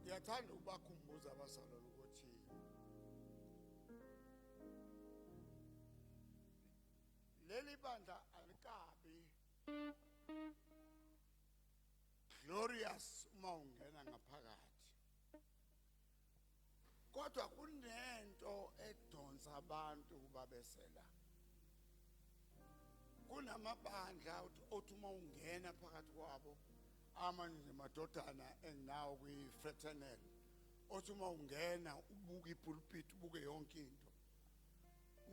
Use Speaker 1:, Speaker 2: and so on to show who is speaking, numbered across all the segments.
Speaker 1: ngiyathanda ukubakhumbuza abazalwane ukuthi leli bandla alikabi glorious uma ungena ngaphakathi kodwa kunento edonsa abantu ukuba besela kunamabandla othi uma ungena phakathi kwabo amanye nje madodana enginawo kwi-fraternel othi uma ungena ubuke ipulpiti ubuke yonke into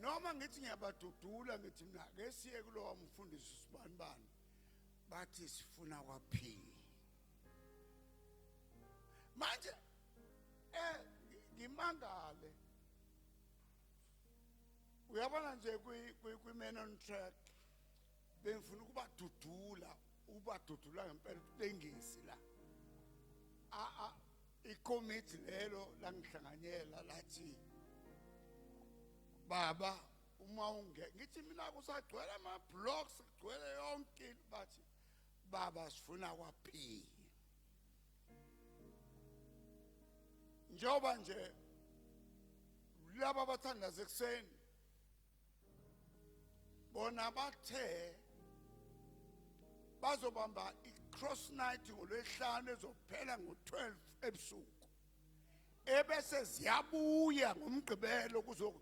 Speaker 1: noma ngithi ngiyabadudula ngithi mina ke siye kulowa mfundisi sibanibani bathi sifuna kwaphila manje eh ngimangale uyabona nje kwi-man on track bengifuna ukubadudula ubadudula ngempela utengisi la ikomiti lelo langihlanganyela lathi baba uma unge ngithi mina kusagcwele ama-blocks kugcwele yonke into bathi baba sifuna kwaphini njengoba nje laba abathandaza ekuseni bona bathe bazobamba i-cross night ngolwesihlanu ezophela ngo-12 ebusuku ebese ziyabuya ngomgqibelo kuzo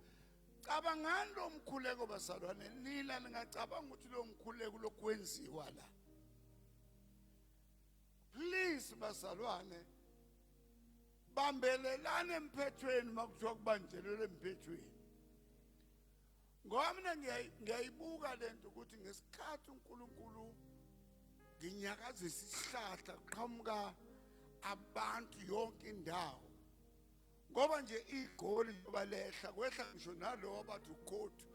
Speaker 1: cabangani lo mkhuleko basalwane nina ningacabanga ukuthi lo mkhuleko lokwenziwa la please basalwane bambelelane emphethweni makuthiwa kubanjelwe emphethweni ngoba mina ngiyayibuka lento ukuthi ngesikhathi uNkulunkulu nginyakazisa isihlahla kuqhamuka abantu yonke indawo ngoba nje igoli njengoba lehla kwehla ngisho nalowo bathi ukhothu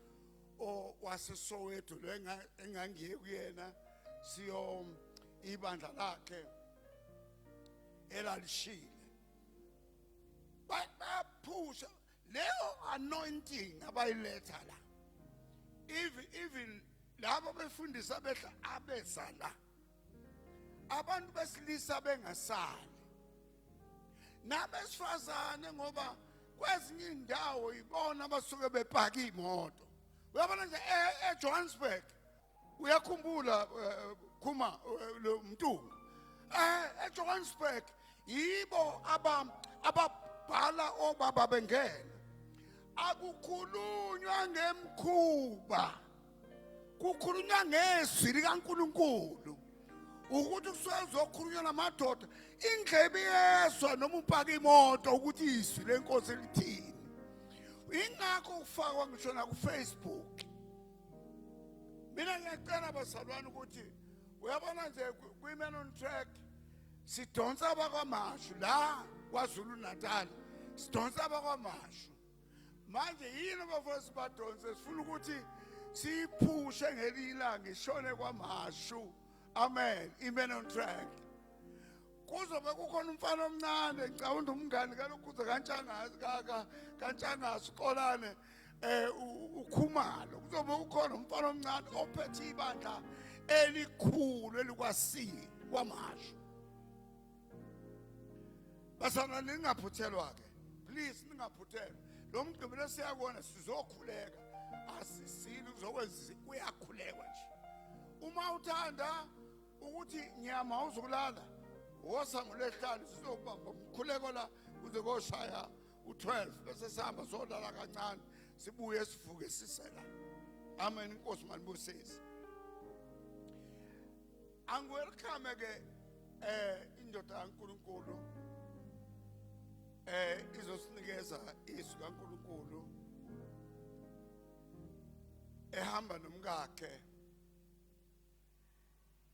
Speaker 1: wasesoweto lo engangiye kuyena siyo ibandla lakhe elalishile baphusha leyo anointing abayiletha la even even labo befundisa behla abeza la abantu besilisa bengasali nabesifazane ngoba kwezinye indawo ibona abasuke bepaka imoto uyabona nje eJohannesburg uyakhumbula eh, khuma eh, lo mtungu eh eJohannesburg yibo aba ababhala obaba bengena akukhulunywa ngemkhuba kukhulunywa ngezwi likaNkuluNkulu ukuthi kusuke kuzokhulunywa namadoda indlebe yeswa noma upaka imoto ukuthi izwi lenkosi lithini ingakho kufakwa ngisho nakufacebook mina ngiyacela bazalwane ukuthi uyabona nje kwi-man on track sidonsa abakwamashu la kwazulu natal sidonsa abakwamashu manje yini abafowethu badonse sifuna ukuthi siyiphushe ngelinye ilanga ishone kwamashu amen i-man on track kuzobe kukhona umfana omncane ngicabanga umngani kalokhuza kantshangazi kaka kantshangazi uqolane eh ukhumalo kuzobe kukhona umfana omncane ophethe ibandla elikhulu elikwasini kwamasho basana ningaphuthelwa ke please ningaphuthelwa lo mgqibelo siyakona sizokhuleka asisini kuzokwenza kuyakhulekwa nje uma uthanda ukuthi nyama awuzukulala wosa ngolwesihlanu sizokubamba umkhuleko la kuze koshaya u-12 bese sihamba sodlala kancane sibuye sivuke sisela amen inkosi manibusise angiwelcome ke eh indoda kaNkuluNkulu eh izosinikeza izwi kaNkuluNkulu ehamba nomkakhe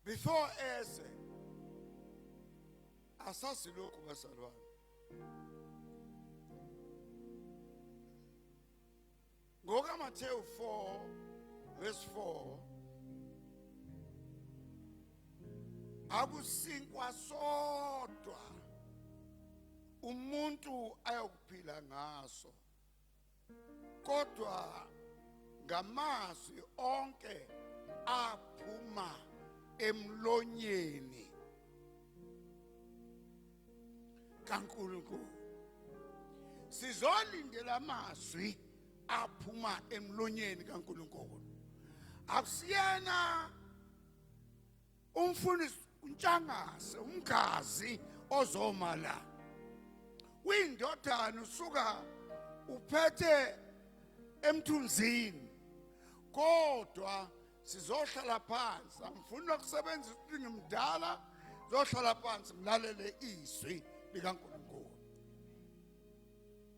Speaker 1: before eze asazi lokhu bazalwane ngokaMathewu 4 verse 4 akusinkwa sodwa umuntu ayokuphila ngaso kodwa ngamazwi onke aphuma emlonyeni kaNkulunkulu sizolindela amazwi aphuma emlonyeni kaNkulunkulu akusiyena Umfundisi uNtshangase umgazi ozoma la. Uyindodana usuka uphethe emthunzini. Kodwa sizohlala phansi. Angifuni ukusebenzisa ukuthi ngimdala, zohlala phansi ngilalele izwi likaNkulunkulu.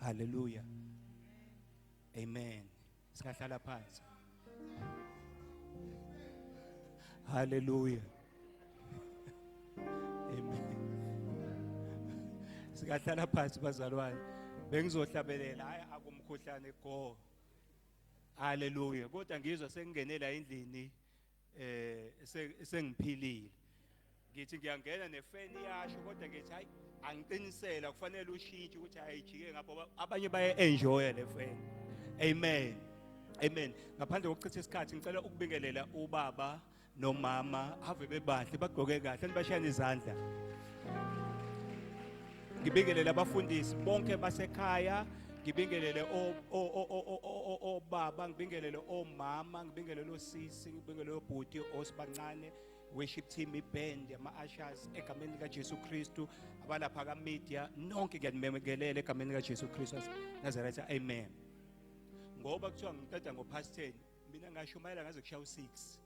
Speaker 2: Hallelujah. Amen. Singahlala phansi. Hallelujah. Amen. Singahlala phansi bazalwane. Bengizohlabelela hayi akumkhuhlane go. Hallelujah. Kodwa ngizwa sengingenela endlini. eh sengiphilile ngithi ngiyangena nefeni yasho kodwa ngithi hayi angiqinisela kufanele ushintshe ukuthi ayijike ngapho abanye baye enjoy le feni amen amen ngaphandle kokuchitha isikhathi ngicela ukubingelela ubaba nomama ave bebahle bagqoke kahle nibashayana izandla ngibingelele abafundisi bonke basekhaya ngibingelele obaba ngibingelele omama ngibingelele osisi ngibingelele obhuti osibancane worship team iband ama-ashas egameni likajesu kristu abalapha kamedia nonke ngiyanimemekelela egameni likajesu kristu nazaretha amen ngoba kuthiwa ngiqeda ngo-past ten mina ngashumayela ngaze kushaya u-six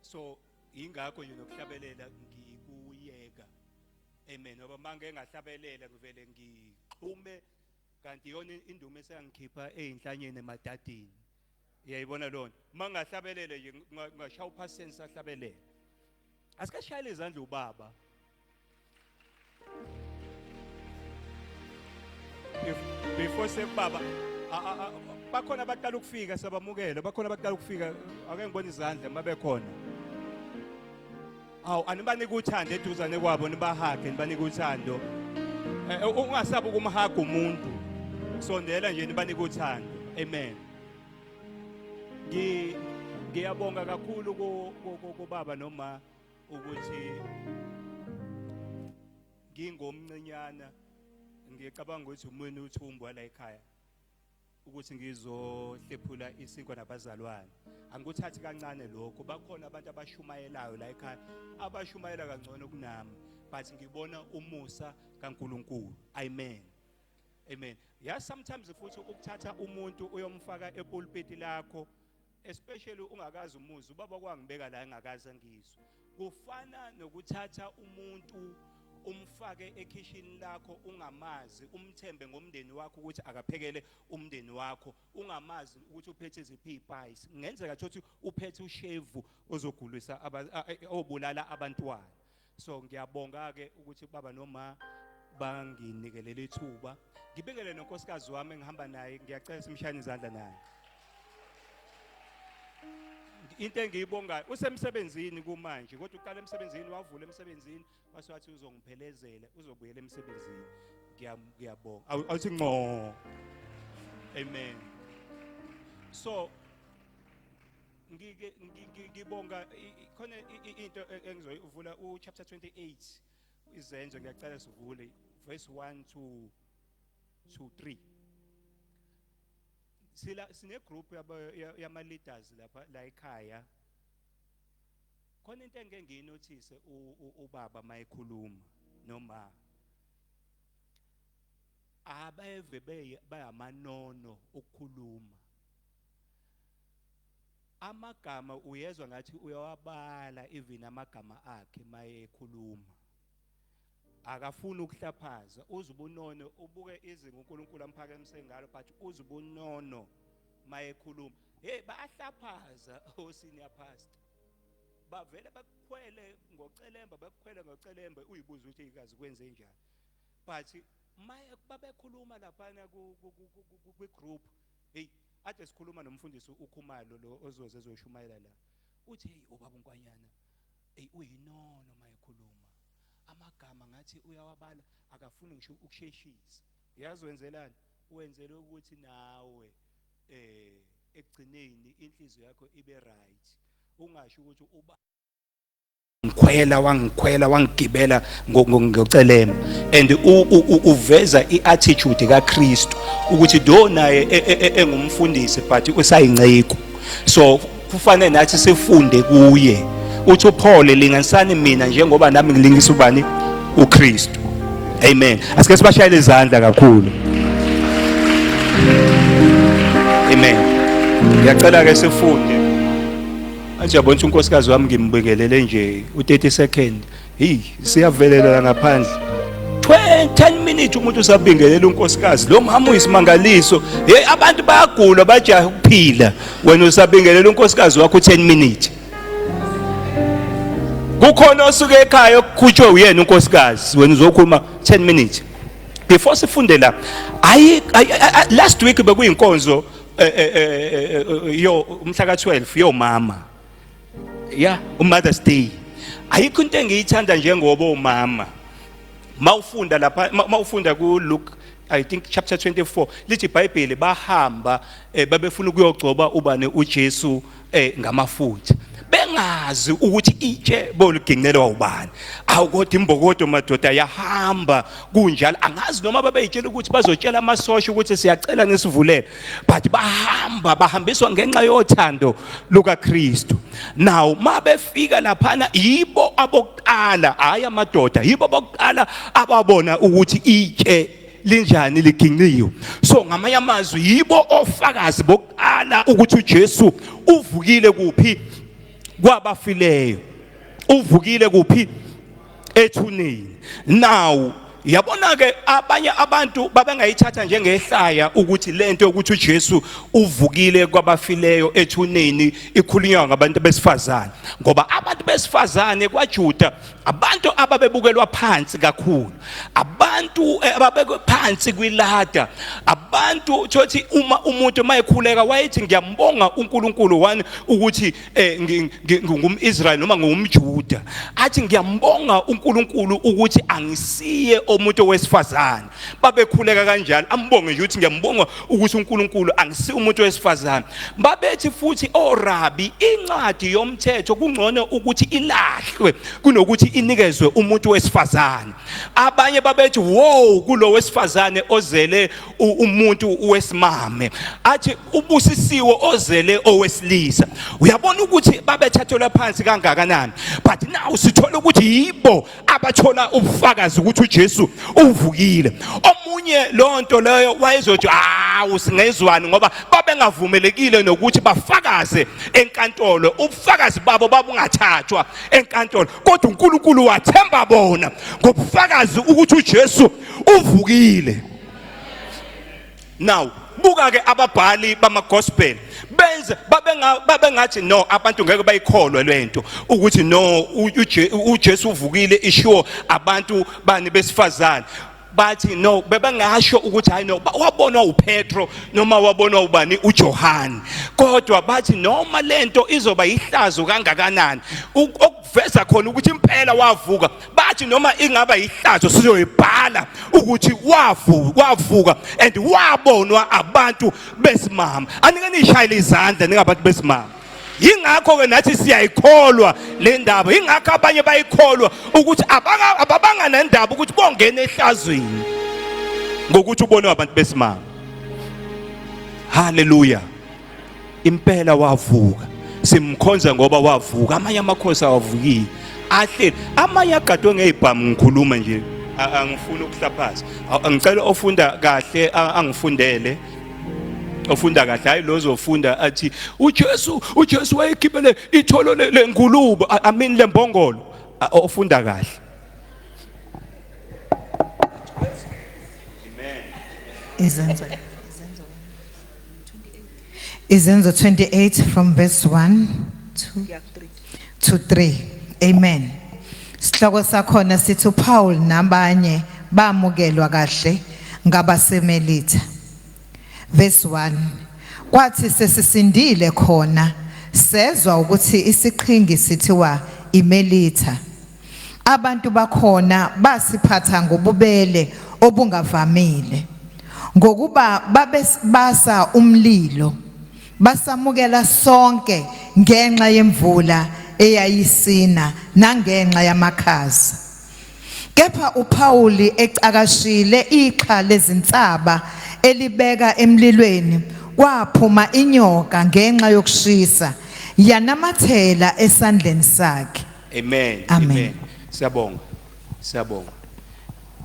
Speaker 2: so yingakho nje nokuhlabelela ngikuyeka Amen. Ngoba mangeke ngahlabelela ngivele ngixhume kanti yona indumo esangikhipha ezinhlanyeni emadadini. Uyayibona lona. Mangahlabelele nje ngashaya uphaseni sahlabelela. Asikashayile izandla ubaba. Before sekubaba bakhona abaqala ukufika sabamukela bakhona abaqala ukufika ake ngibone izandla mabekhona awu anibanike uthando eduzane kwabo nibahage nibanike uthando eh, eh, ungasabi ukumhaga umuntu sondela nje nibanike uthando amen ngi ngiyabonga kakhulu kubaba noma ukuthi ngingomncinyana ngicabanga ukuthi umweni uthumbu wala ekhaya ukuthi ngizohlephula isinkwa nabazalwane angikuthathi kancane lokho bakhona abantu abashumayelayo la ekhaya abashumayela kangcono kunami but ngibona umusa kaNkuluNkulu amen amen ya sometimes futhi ukuthatha umuntu uyomfaka epulpiti lakho especially ungakazi umuzi ubaba kwangibeka la engakazi angizwe kufana nokuthatha umuntu umfake ekhishini lakho ungamazi umthembe ngomndeni wakho ukuthi akaphekele umndeni wakho ungamazi ukuthi uphethe iziphi izipice ngenzeka ukuthi uphethe ushevu ozogulisa obulala abantwana so ngiyabonga ke ukuthi baba noma banginikelele ithuba ngibekele nonkosikazi wami engihamba naye ngiyacela simshayane izandla naye into engiyibongayo usemsebenzini kumanje kodwa uqala emsebenzini wavula emsebenzini wase wathi uzongiphelezela uzobuyela emsebenzini ngiyabonga awuthi nqo amen so ngike ngi- ngi- ngibonga i- i- khona i- i- into e- engizoyivula uchapter 28 izenzo ngiyacela sivule verse 1 to to 3 sila sine group yaba- ya- yama leaders lapha la ekhaya khona into engeke ngiyinothise u- u- ubaba mayekhuluma noma abeve beye bayamanono ukukhuluma amagama uyezwa ngathi uyawabala even amagama akhe maye ekhuluma akafuni ukuhlaphaza uze ubunono ubuke izinga uNkulunkulu amphakemise ngalo but uze ubunono maye ekhuluma hey bayahlaphaza osenior oh, pastor bavele bakukhwele ngocelemba bakukhwele ngocelemba uyibuza ukuthi ikazi kwenze njani but maye babekhuluma lapha ku group Hey, ade sikhuluma nomfundisi uKhumalo lo ozoze ezoshumayela la. Uthi hey ubaba uNkwanyana hey uyinono mayekhuluma. Amagama ngathi uyawabala akafuni ngisho ukusheshisa. Uyazi wenzelani? Wenzele ukuthi nawe eh ekugcineni inhliziyo yakho ibe right. Ungasho ukuthi uba ngikhwela wangikhwela wangigibela ngocelema and uveza i-attitude kaKristu ukuthi do naye e, e, e, engumfundisi but usayinceku so kufanele nathi sifunde kuye uthi uPaul linganisani mina njengoba nami ngilingisa ubani uKristu amen asike sibashayele izandla kakhulu amen ngiyacela ke sifunde Athi yabona ukuthi unkosikazi wami ngimbingelele nje u-30 second. Hey, siyavelela ngaphandle. 10 minutes umuntu usabingelela unkosikazi lo mama uyisimangaliso hey abantu bayagula bajaha ukuphila wena usabingelela unkosikazi wakho 10 minutes kukhona osuke ekhaya okukhutshwe uyena unkosikazi wena uzokhuluma 10 minutes before sifunde la ayi last week bekuyinkonzo eh, eh, eh, yo umhla ka-12 yomama ya umothers day ayikho into engiyithanda njengoba umama mawufunda lapha mawufunda ku Luke I think chapter 24 lithi iBhayibheli bahamba babefuna ukuyogcoba ubani uJesu eh ngamafutha bengazi ukuthi itshe boligincelwa ubani awu kodwa imbokodo madoda yahamba kunjalo angazi noma babeyitshela ukuthi bazotshela amasosha ukuthi siyacela nisivulele but bahamba bahambiswa ngenxa yothando lukaKristu nawo mabefika laphana yibo abokuqala hayi amadoda yibo abokuqala ababona ukuthi itshe linjani liginqiwe so ngamanye amazwi yibo ofakazi bokuqala ukuthi uJesu uvukile kuphi kwabafileyo uvukile kuphi ethuneni now yabona ke abanye abantu babengayithatha njengehlaya ukuthi lento ukuthi uJesu uvukile kwabafileyo ethuneni ikhulunywa ngabantu besifazane ngoba abantu besifazane kwaJuda abantu ababebukelwa phansi kakhulu abantu eh, ababekwe phansi kwilada abantu thothi uma umuntu mayekhuleka wayethi ngiyambonga uNkulunkulu wani ukuthi eh, ngingumIsrael noma ngumJuda athi ngiyambonga uNkulunkulu ukuthi angisiye omuntu wesifazane babekhuleka kanjalo ambonge nje ukuthi ngiyambonga ukuthi uNkulunkulu angisi umuntu wesifazane babethi futhi orabi oh, incwadi yomthetho kungcono ukuthi ilahlwe kunokuthi inikezwe umuntu wesifazane abanye babethi wow kulo wesifazane ozele umuntu wesimame athi ubusisiwe ozele owesilisa uyabona ukuthi babethathelwa phansi kangakanani but now sithola ukuthi yibo abathola ubufakazi ukuthi uJesu uvukile omunye lonto leyo wayezothi hawu singezwani ngoba babengavumelekile nokuthi bafakaze enkantolo ubufakazi babo babungathathwa enkantolo kodwa uNkulunkulu wathemba bona ngobufakazi ukuthi uJesu uvukile now buka ke ababhali bamagospel benze babenga babengathi no abantu ngeke bayikholwe lento ukuthi no uJesu uvukile ishiwo abantu bani besifazane bathi no bebengasho ukuthi hayi no wabonwa uPetro noma wabonwa ubani uJohane kodwa bathi noma lento izoba ihlazo kangakanani veza khona ukuthi impela wavuka bathi noma ingaba ihlazo sizoyibhala ukuthi wavuka wavuka and wabonwa abantu besimama anike nishayile izandla ningabantu besimama yingakho ke nathi siyayikholwa le ndaba yingakho abanye bayikholwa ukuthi ababanga nendaba ukuthi bongena ehlazweni ngokuthi ubone abantu besimama haleluya impela wavuka simkhonza ngoba wavuka amanye amakhosi awavukile ahleli amanye agadwe ngeyibhamu ngikhuluma nje angifuni ukuhlaphaza ngicela ofunda kahle angifundele ofunda kahle hayi lo zofunda athi uJesu uJesu wayekhiphele itholo lengulube i mean lembongolo ofunda kahle izenzo
Speaker 3: izenzo Izenzo 28 from verse 1 to, to 3. Amen. Sihloko sakhona sithi uPaul nabanye bamukelwa kahle ngabasemelitha. Verse 1. Kwathi sesisindile khona sezwa ukuthi isiqhingi sithiwa imelitha. Abantu bakhona basiphatha ngobubele obungavamile ngokuba babesibasa umlilo basamukela sonke ngenxa yemvula eyayisina nangenxa yamakhaza kepha uPawuli ecakashile iqha lezinsaba elibeka emlilweni kwaphuma inyoka ngenxa yokushisa yanamathela esandleni sakhe Amen. Amen.
Speaker 2: Amen.
Speaker 3: Siyabonga.
Speaker 2: Siyabonga.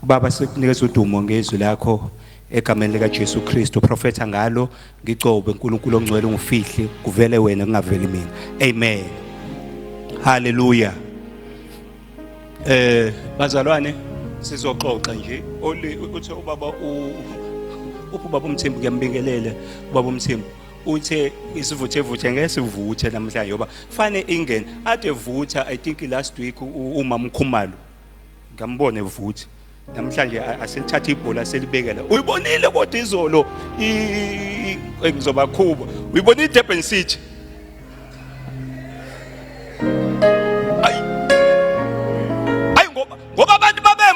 Speaker 2: Baba sikunikeza udumo ngezwi lakho egameni lika Jesu Kristu profetha ngalo ngigcobe uNkulunkulu ongcwele ungifihle kuvele wena kungaveli mina amen haleluya eh bazalwane sizoxoxa nje uthi ubaba u ubaba umthembu kuyambingelela ubaba umthembu uthe isivuthevuthe ngeke sivuthe namhlanje yoba fane ingene ade vutha i think last week uma mkhumalo ngambone vutha namhlanje aselithatha ibhola selibekela uyibonile kodwa izolo ngizobakhuba uyibona idurban city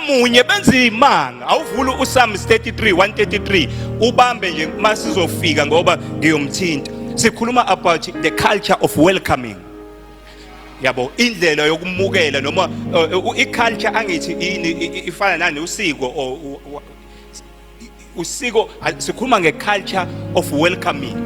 Speaker 2: munye benza imanga awuvuli uSam 33 133 ubambe nje masizofika ngoba ngiyomthinta sikhuluma about the culture of welcoming yabo indlela yokumukela noma uh, i-culture angithi yini ifana nani usiko or usiko sikhuluma ngeculture of welcoming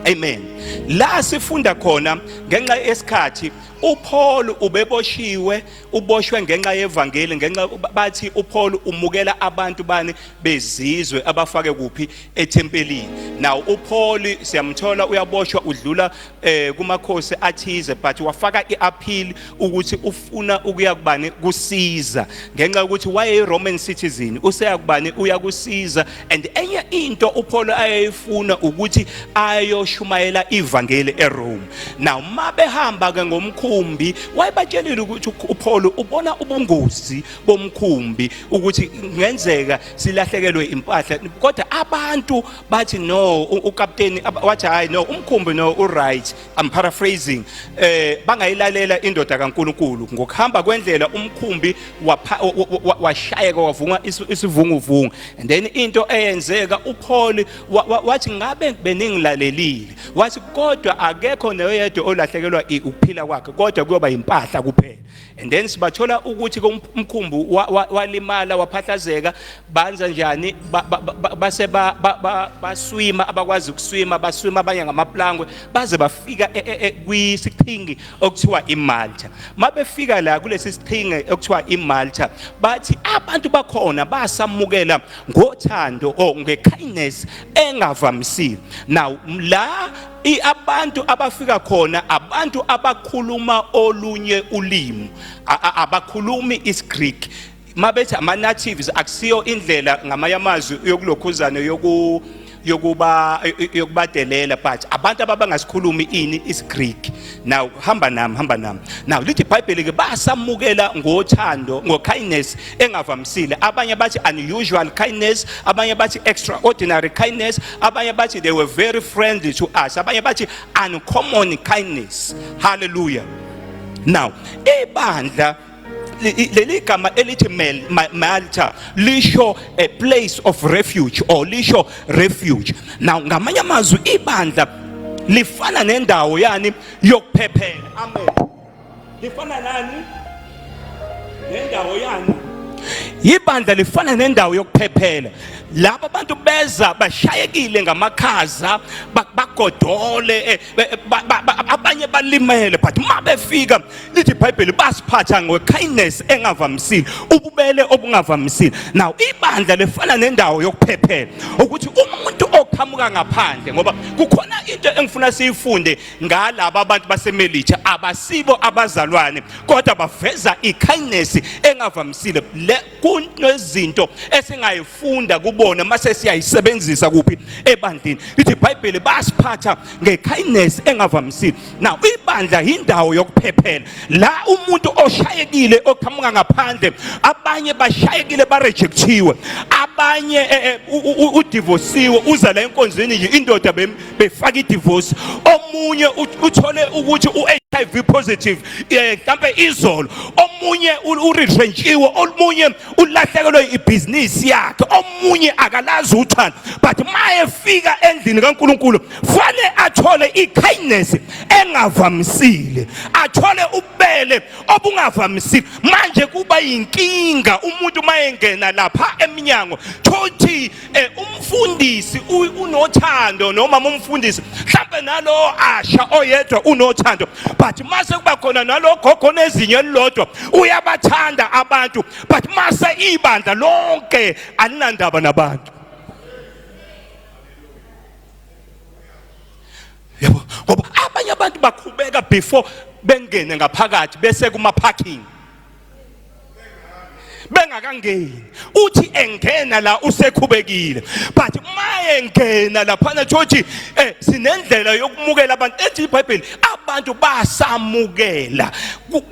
Speaker 2: amen la sifunda khona ngenxa yesikhathi uPaul ubeboshiwe uboshwe ngenxa yevangeli ngenxa bathi uPaul umukela abantu bani bezizwe abafake kuphi ethempelini now uPaul siyamthola uyaboshwa udlula eh kumakhosi athize but wafaka iappeal ukuthi ufuna ukuya kubani kusiza ngenxa yokuthi waye Roman citizen useya kubani uya kusiza and enye into uPaul ayeyifuna ukuthi ayoshumayela ivangeli eRome now mabehamba ke ngomkhumbi wayebatshelile ukuthi uPaul ubona ubungozi bomkhumbi ukuthi ngenzeka silahlekelwe impahla kodwa abantu bathi no ukapteni wathi hayi no umkhumbi no uright i'm paraphrasing eh bangayilalela indoda kaNkuluNkulu ngokuhamba kwendlela umkhumbi washayeka wavunga isivunguvungu and then into eyenzeka uPaul wathi ngabe beningilalelile wathi kodwa akekho noyedwa olahlekelwa ukuphila kwakhe kodwa kuyoba impahla kuphela and then sibathola ukuthi umkhumbu walimala waphahlazeka banza njani base baswima abakwazi ukuswima baswima abanye ngamaplangwe baze bafika e, e, e, kwisiqhingi okuthiwa imalta mabefika la kulesi siqhingi okuthiwa imalta bathi abantu bakhona basamukela ngothando or ngekindness engavamisile now la I abantu abafika khona abantu abakhuluma olunye ulimi abakhulumi isiGreek mabethi ama natives akusiyo indlela ngamanye amazwi yokulokhuzana yoku yokuba yokubadelela but abantu ababangasikhulumi ini isiGreek Now hamba nami hamba nami. Now lithi iBhayibheli ke basamukela ngothando ngokindness engavamisile. Abanye bathi unusual kindness, abanye bathi extraordinary kindness, abanye bathi they were very friendly to us. Abanye bathi uncommon kindness. Hallelujah. Now ibandla leli gama elithi Malta lisho a place of refuge or lisho refuge now ngamanye amazwi ibandla lifana nendawo yani yokuphephela amen lifana nani nendawo yani ibandla lifana nendawo yokuphephela laba bantu beza bashayekile ngamakhaza bagodole eh, abanye balimele but uma befika lithi ibhayibheli basiphatha ngekindness engavamisile ububele obungavamisile now ibandla lefana nendawo yokuphephela ukuthi umuntu oqhamuka ngaphandle ngoba kukhona into engifuna siyifunde ngalaba abantu basemelitsha abasibo abazalwane kodwa baveza ikindness engavamisile kunezinto esingayifunda kubona mase siyayisebenzisa kuphi ebandleni lithi ibhayibheli basiphatha ngekindness engavamisile now ibandla yindawo yokuphephela la umuntu oshayekile oqhamuka ngaphandle abanye bashayekile barejectiwe abanye eh, eh, udivosiwe uza la enkonzweni nje indoda befaka idivorce omunye uthole ukuthi u-hiv positive eh mhlambe izolo omunye uretrentshiwe omunye ulahlekelwe ibhizinisi yakhe omunye akalazi uthando but mayefika endlini kaNkuluNkulu fanele athole ikindness engavamisile athole ubele obungavamisile manje kuba yinkinga umuntu mayengena lapha eminyango thothi Eh umfundisi unothando noma umfundisi mhlambe nalo asha oyedwa unothando but mase kuba khona nalo gogo nezinyo elilodwa uyabathanda abantu but mase ibandla lonke alinandaba nabantu yabo ngoba abanye abantu bakhubeka before bengene ngaphakathi bese kuma parking bengakangeni uthi engena la usekhubekile but uma engena laphana thothi eh sinendlela yokumukela abantu ethi iBhayibheli abantu basamukela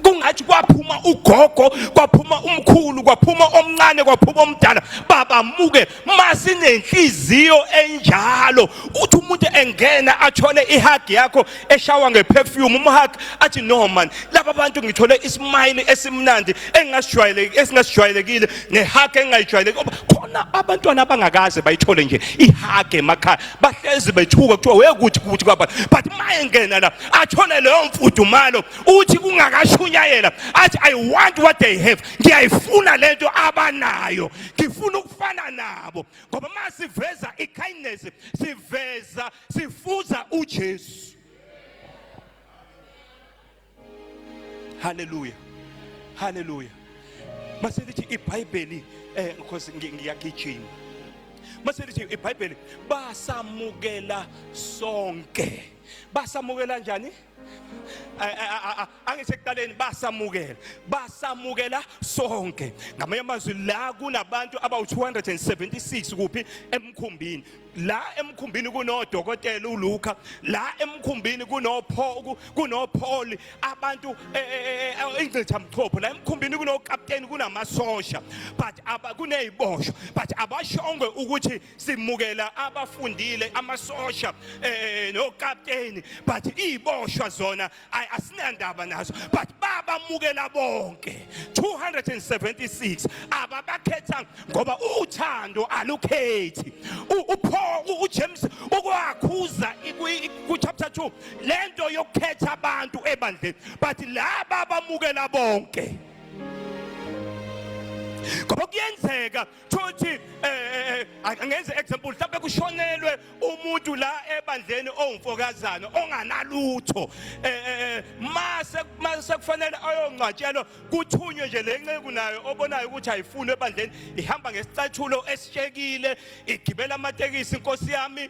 Speaker 2: kungathi kwaphuma ugogo kwaphuma umkhulu kwaphuma omncane kwaphuma omdala babamukela masinenhliziyo enjalo uthi umuntu engena athole ihug yakho eshawa ngeperfume umhug athi no man laba bantu ngithole ismile esimnandi engasijwayeleki esingasijwayelekile nehug engayijwayeleki khona abantwana abangakaze bayithole nje ihug emakhaya bahlezi bethuka kuthiwa wekuthi kuthi kwaba but maye ngena la athole leyo mfudumalo uthi kungakashunyayela athi i want what they have ngiyayifuna lento abanayo ngifuna ukufana nabo ngoba uma siveza i-kindness siveza sifuza ujesu haleluya haleluya mase lithi ibhayibheli eh because ngiyagijima mase lithi ibhayibheli basamukela sonke basamukela njani angisho ekuqaleni basamukela basamukela sonke ngamanye amazwi la kunabantu abawu-276 kuphi emkhumbini la emkhumbini kunodokotela uluka la emkhumbini kunopholi abantu eh, eh, eh, ingcithamchopho la emkhumbini kunokapteni kunamasosha but kuney'boshwa but abashongwe ukuthi simukela abafundile amasosha um nokapteni but iy'boshwa zona ayi asinandaba nazo but babamukela bonke 276 ababakhetha ngoba uthando alukhethi upho uJames ukwakhuza ku chapter 2 lento yokukhetha abantu ebandleni but laba bamukela bonke ngoba kuyenzeka Thothi eh, eh, eh angenze example mhlawumbe kushonelwe umuntu la ebandleni owumfokazana onganalutho eh, eh, eh mase mase kufanele ayongcwatshelwa kuthunywe nje lenceku nayo obonayo ukuthi ayifuni ebandleni ihamba ngesicathulo esishekile igibela amatekisi inkosi yami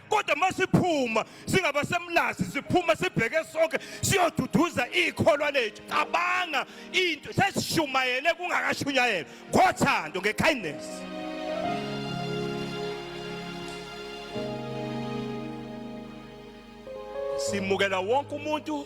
Speaker 2: kodwa masiphuma singabasemlazi siphuma sibheke sonke siyoduduza ikholwa lethu cabanga into sesishumayele kungakashunyayela ngothando ngekindness simukela wonke umuntu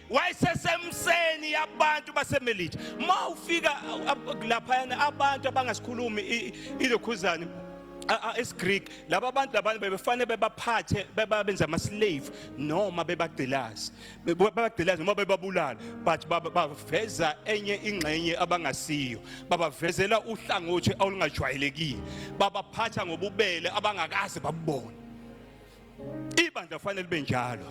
Speaker 2: wayesesemseni yabantu basemelika ma ufika laphayana abantu abangasikhulumi ilokhuzane isiGreek laba abantu labantu bebefanele bebaphathe bebabenza ama slave noma bebagcilaza bebagcilaza noma bebabulala but baveza enye ingxenye abangasiyo babavezela uhlangothi olungajwayelekile babaphatha ngobubele abangakaze babubone ibandla kufanele libe njalo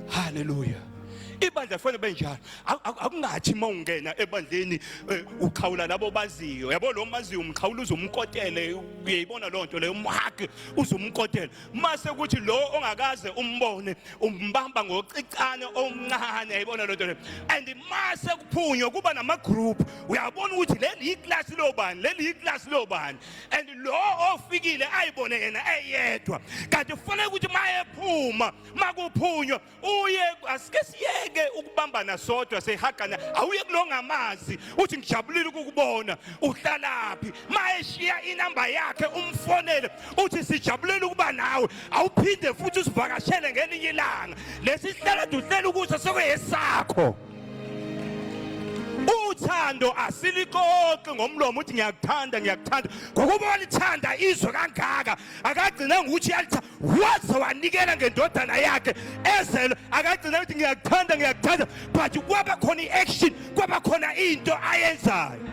Speaker 2: haleluya ibandla kufanele libe njalo akungathi uma ungena ebandleni eh, uqhawula labo baziyo yabo lo maziyo umqhawula uzumkotele uyayibona loo nto leyo umhage uzumkotele mase kuthi lo ongakaze umbone umbamba ngocicane omncane yayibona loo nto leyo and mase kuphunywe kuba namagroup uyabona ukuthi leli yiklasi lobani leli yiklasi lobani and lo ofikile ayibone yena eyedwa kanti kufanele ukuthi mayephuma makuphunywa uye asike siyeke ukubambana sodwa sehagana awuye kulongamazi uthi ngijabulile ukukubona uhlalaphi mayeshiya inamba yakhe umfonele uthi sijabulele ukuba nawe awuphinde futhi usivakashele ngelinye ilanga lesihlala duhlela ukuthi sekuyesakho uthando asilixoxi ngomlomo uthi ngiyakuthanda ngiyakuthanda ngokuba walithanda izwe kangaka akagcina ngokuthi uyalithanda waze wanikela ngendodana yakhe ezelwe akagcina ukuthi ngiyakuthanda ngiyakuthanda but kwaba khona i-action kwaba khona into ayenzayo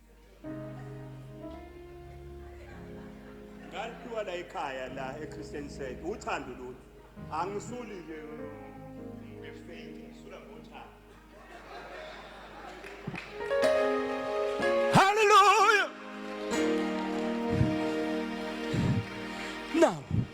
Speaker 2: ngalipiwa la ekhaya la eChristian said uthando lolu angisuli ke ngefake sula ngothando hallelujah now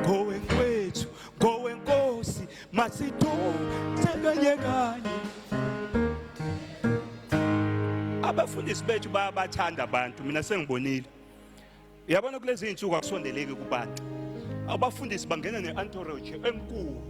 Speaker 2: ngowenkwethu ngowenkosi masithuthekanye kanye abafundisi bethu bayabathanda abantu mina sengibonile uyabona kulezi iy'nsuku akusondeleki kubantu abafundisi bangena ne-antorage enkulu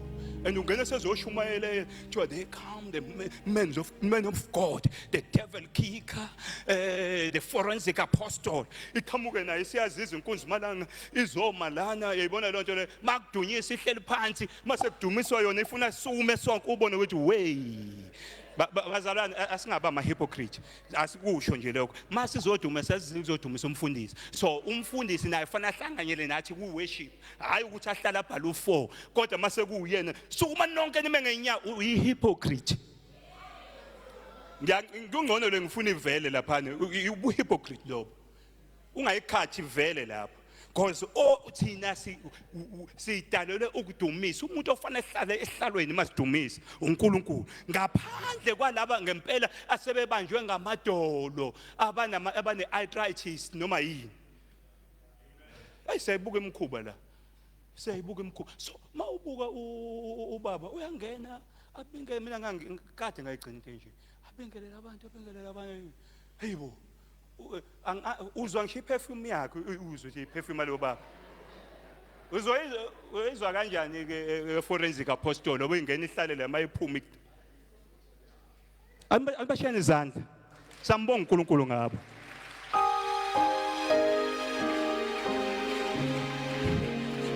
Speaker 2: and ungena sezoshumayela kuthiwa they come the men of, men of god the devil kicker uh, the forensic apostle iqhamuke naye siyaziza inkunzi malanga izoma lana uyayibona loo nto leyo makudunyisa ihleli phansi masekudumiswa yona ifuna sume sonke ubone ukuthi weyi bazalwane asingaba amahypocrite asikusho nje lokho uma sizoduma sesizodumisa umfundisi so umfundisi naye fanele ahlanganyele nathi ku-worship hhayi ukuthi ahlale abhale u-four kodwa uma sekuwuyena sukuma nonke nime ngenya uyihypocrite kungcono le ngifuna ivele laphana ubuhypocrite lobo ungayikhathi vele lapho because o thina sidalelwe ukudumisa umuntu ofanele ehlale ehlalweni masidumisa uNkulunkulu ngaphandle kwalaba ngempela asebebanjwe ngamadolo abanama abane arthritis noma yini ayisebuka imkhuba la siyayibuka imkhuba so mawubuka ubaba uyangena abinge mina ngangikade ngayigcina into enje abingelela abantu abingelela abantu hayibo hey, U- ang- a- uzwa ngisho iperfume yakhe u- uzwe nje iperfume yalowo baba uzoyizwa uyoyizwa kanjani ke e- e- forensic apostle obe ingena ihlale la mayiphuma ik- Aliba- alibashayeni izandla sambonga uNkulunkulu ngabo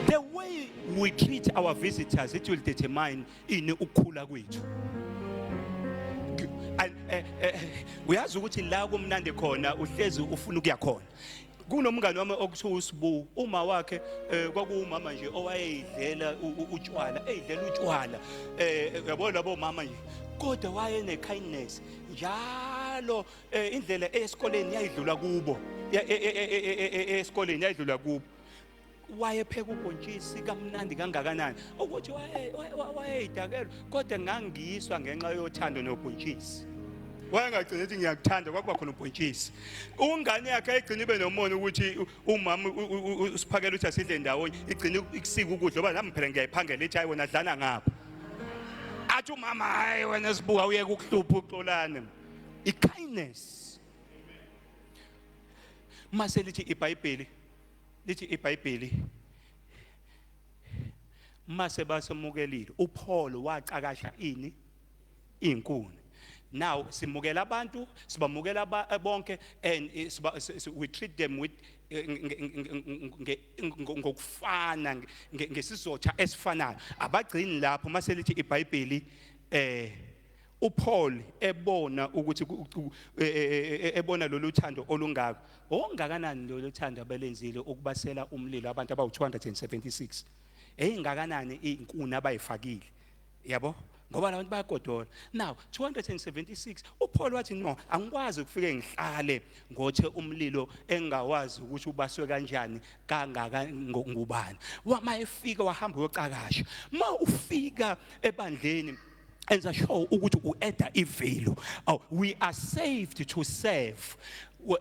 Speaker 2: the way we treat our visitors it will determine ini ukukhula kwethu eh, eh, eh, uyazi ukuthi la kumnandi khona uhlezi ufuna ukuya khona kunomngane wami okuthiwa usibu uma wakhe eh, kwakuwumama nje owayeyidlela utshwala eyidlela utshwala eh, eh yabo labo mama nje kodwa waye ne kindness njalo eh, indlela esikoleni yayidlula kubo esikoleni yayidlula kubo wayepheka ubhontshisi kamnandi kangakanani ukuthi wayeyidakelwa kodwa ngangiyiswa ngenxa yothando nobhontshisi wayengagcina ukuthi ngiyakuthanda kwakuba khona ubhontshisi ungane yakhe ayigcina ibe nomona ukuthi umama usiphakela ukuthi asidle ndawonye igcina ikusika ukudla oba nami phela ngiyayiphangela ithi hayi wena dlana ngapha athi umama hayi wena sibuka uyeke ukuhlupha uxolane i-kindness mase lithi ibhayibheli lithi iBhayibheli mase basemukelile uPaul wacakasha ini inkuni now simukela abantu sibamukela eh, bonke and eh, we treat them with eh, ngokufana ngesizotha esifanayo abagcini lapho mase lithi iBhayibheli eh uPaul ebona ukuthi e, e, e, ebona lolu thando olungaka ongakanani lolu thando abelenzile ukubasela umlilo abantu abawu276 eyingakanani izinkuni abayifakile yabo ngoba labantu bayagodola now 276 uPaul wathi no angikwazi ukufike ngihlale ngothe umlilo engawazi ukuthi ubaswe kanjani kangaka ngubani wama efika wahamba uyocakasha ma ufika ebandleni enza sure ukuthi ueda ivelu oh, we are saved to serve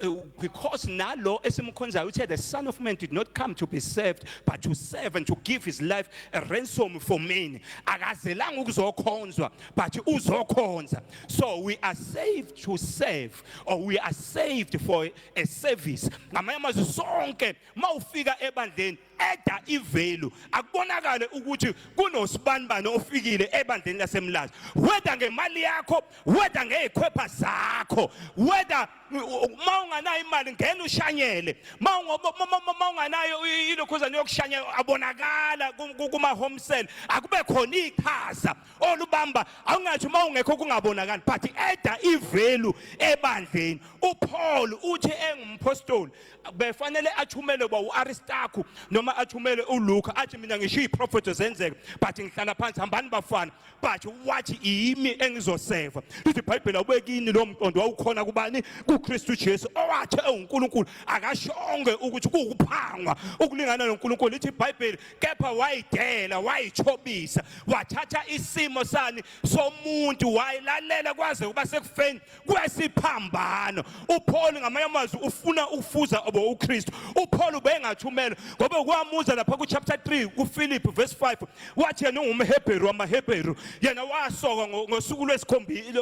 Speaker 2: eh, because nalo esimkhonzayo uthe the son of man did not come to be served but to serve and to give his life a ransom for many akazelanga ukuzokhonzwa but uzokhonza so we are saved to serve or we are saved for a service ngamanye amazwi sonke mawufika ebandleni eda ivelu akubonakale ukuthi kunosibanibani ofikile ebandleni lasemlazi whether ngemali yakho whether ngezikhwepha zakho whether uma unganayo imali ngena ushanyele uma unganayo ilokhuzane yokushanya abonakala kuma-home cell akube khona iqhaza olubamba awungathi uma ungekho kungabonakali but eda ivelu ebandleni upaul uthi engumphostoli befanele athumelwe ba uAristarku noma athumelwe uLuka athi mina ngisho iziprofeto zenzeka but ngihlala phansi hambani bafana but wathi yimi engizoseva lithi iBhayibheli awubekini lo mqondo wawukhona kubani kuKristu Jesu owathe uNkulunkulu akashonge ukuthi kuwukuphangwa ukulingana noNkulunkulu lithi iBhayibheli kepha wayidela wayichobisa wathatha isimo sani somuntu wayilalela kwaze kuba sekufeni kwesiphambano uPaul ngamanye amazwi ufuna ukufuza obo uKristu uPaul ubengathumela ngoba kwamuza lapha kuchapter 3 kuPhilip verse 5 wathi yena ungumHebheru wamaHebheru yena wasoka ngosuku lwesikhombili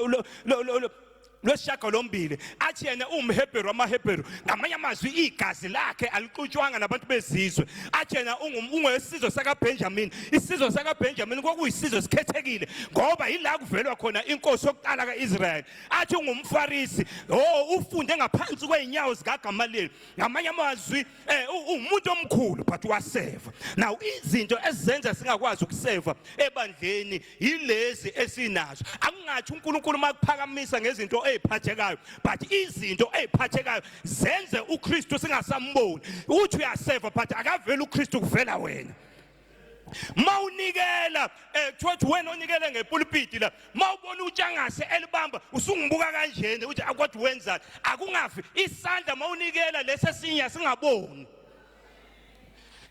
Speaker 2: lwesishaga lombili athi yena uwumhebheru wamahebheru ngamanye amazwi igazi lakhe alixutshwanga nabantu bezizwe athi yena ungowesizwe sakabenjamini isizwe sakaBenjamin kwakuyisizwe esikhethekile ngoba yila kuvelwa khona inkosi yokuqala kaIsrael athi ungumfarisi oh ufunde ngaphansi kweinyawo zikaGamaliyeli ngamanye amazwi eh, umuntu omkhulu but waseva now izinto ezenza singakwazi ukuseva ebandleni yilezi esinazo akungathi uNkulunkulu makuphakamisa ngezinto eziphathekayo but izinto eziphathekayo zenze uKristu singasamboni uthi uyaseva but akaveli uKristu kuvela wena mawunikela eh kuthiwa ukuthi wena onikele ngepulpiti la mawubona utshangase elibamba usungibuka kanjena ukuthi akwathi wenzani akungafi isandla mawunikela lesesinya singaboni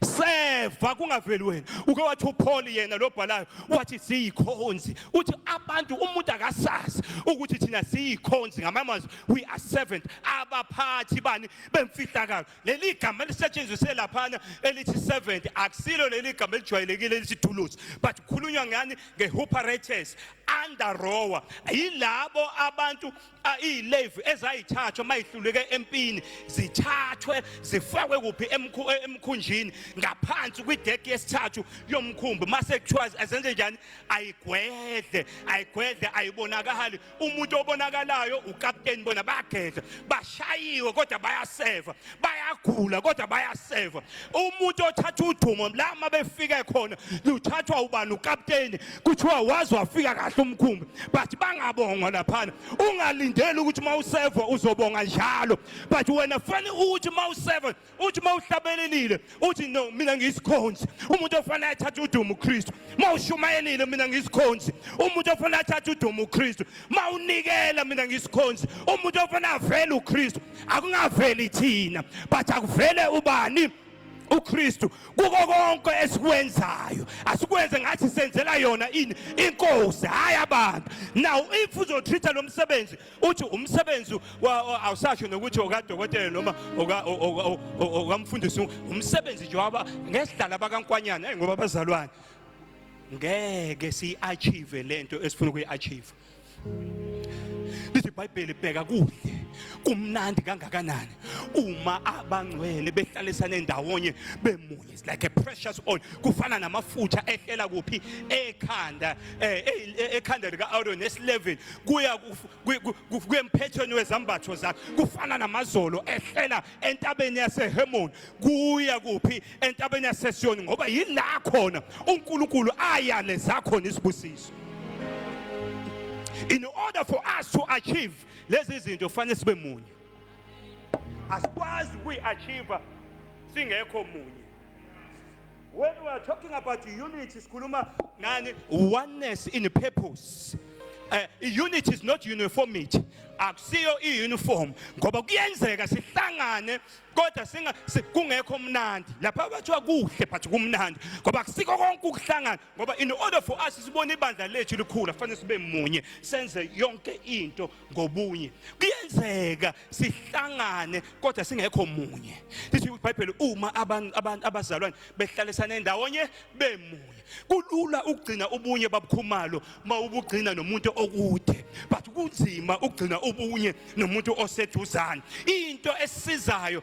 Speaker 2: seva kungaveli wena uke wathi uPaul yena lobhalayo wathi siyikhonzi uthi abantu umuntu akasazi ukuthi thina siyikhonzi ngamamazwi we are servant abaphathi bani bemfihlakalo leli gama elisetshenziswe laphana elithi 70 akusilo leli gama elijwayelekile elithi thuluzi but kukhulunywa ngani nge-huparates andarowa yilabo abantu iyilevi ezayithathwa mayihluleke empini zithathwe zifakwe kuphi e-, emkhunjini ngaphansi kwideki yesithathu yomkhumbi mase kuthiwa azenze njani ayigwedle ayigwedle ayibonakali umuntu obonakalayo ukapteni bona bayagedla bashayiwe kodwa bayaseva bayagula kodwa bayaseva umuntu othatha udumo la uma befike khona luthathwa ubani ukapteni kuthiwa wazi wafika kahle umkhumbi but bangabongwa laphana ungalindeli ukuthi uma useva uzobonga njalo but wena fanele ukuthi uma useva uthi uma uhlabelelile uthi no mina ngiyisikhonzi umuntu ofanele athathe udumo uKristu uma ushumayelile mina ngiyisikhonzi umuntu ofanele athathe udumo uKristu uma unikela mina ngiyisikhonzi umuntu ofanele avele uKristu akungaveli thina but akuvele ubani uKristu kuko konke esikwenzayo asikwenze ngathi senzela yona ini inkosi hayi abantu now if uzotreater lo msebenzi uthi umsebenzi awusasho nokuthi okadokotela noma okamfundisi umsebenzi nje waba ngesidlala bakankwanyana hey ngoba bazalwane ngeke siyi-achieve le nto esifuna ukuyi-achieve lithi ibhayibheli bheka kuhle kumnandi kangakanani uma abangcwele behlalisane ndawonye bemunye It's like a precious oil kufana namafutha ehlela kuphi ekhanda eh, eh, eh, ekhanda lika Aaron esilevini kuya kuyemphethweni wezambatho zakhe kufana namazolo ehlela entabeni yaseHemon kuya kuphi entabeni yaseSiyoni ngoba yila khona uNkulunkulu ayaleza khona isibusiso in order for us to achieve lezi zinto fanele sibe munye asikwazi ukuyi-achieve singekho munye when we are talking about unity sikhuluma ngani oneness in purpose uh, unity is not uniformity akusiyo i-uniform ngoba kuyenzeka sihlangane kodwa singa kungekho mnandi lapha bathiwa kuhle but kumnandi ngoba kusiko konke ukuhlangana ngoba in order for us sibone ibandla lethu likhula kufanele sibe munye senze yonke into ngobunye kuyenzeka sihlangane kodwa singekho munye lithi ibhayibheli uma abantu abantu abazalwane behlalisane ndawonye bemunye kulula ukugcina ubunye babukhumalo mawubugcina nomuntu okude but kunzima ukugcina ubunye nomuntu oseduzane into esizayo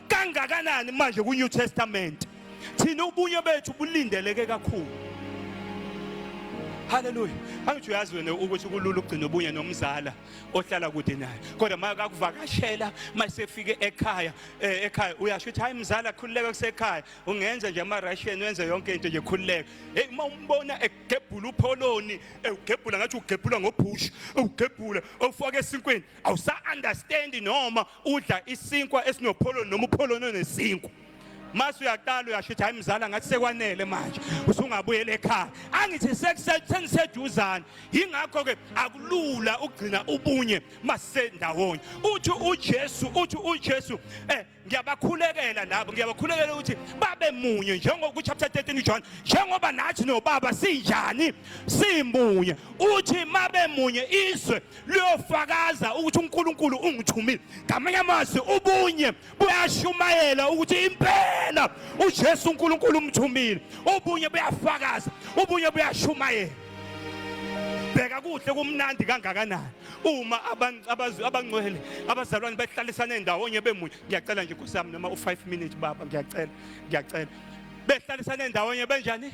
Speaker 2: kangakanani manje ku New Testament thina ubunye bethu bulindeleke kakhulu haleluya angithi uyazi wena ukuthi kulula ukugcina ubunye nomzala ohlala kude naye kodwa uma kakuvakashela uma sefike ekhaya eh, ekhaya uyasho ukuthi hayi mzala khululeka kusekhaya ungenza nje ama-russian wenze yonke into nje khululeka heyi uma umbona egebhula upholoni ewugebhula ngathi ugebhula ngobhushu ewugebhula ewufake esinkweni awusa-understandi noma udla isinkwa esinopholoni noma upholoni onesinkwa mase uyaqala uyasho ukuthi hayi mzala ngathi sekwanele manje usungabuyela ekhaya angithi seniseduzane yingakho-ke akulula ukugcina ubunye masisendawonye uthi ujesu uthi ujesu um eh, ngiyabakhulekela labo ngiyabakhulekela ukuthi babe munye njengoba kuchapter 13 uJohn njengoba nathi nobaba sinjani simunye uthi mabe munye izwe luyofakaza ukuthi uNkulunkulu ungithumile ngamanye amazwi ubunye buyashumayela ukuthi impela uJesu uNkulunkulu umthumile ubunye buyafakaza ubunye buyashumayela bheka kuhle kumnandi kangakanani uma abangcwele abazalwane behlalisane ndawonye bemunye ngiyacela nje nkosi yami noma u-5 minutes baba ngiyacela ngiyacela behlalisane ndawonye benjani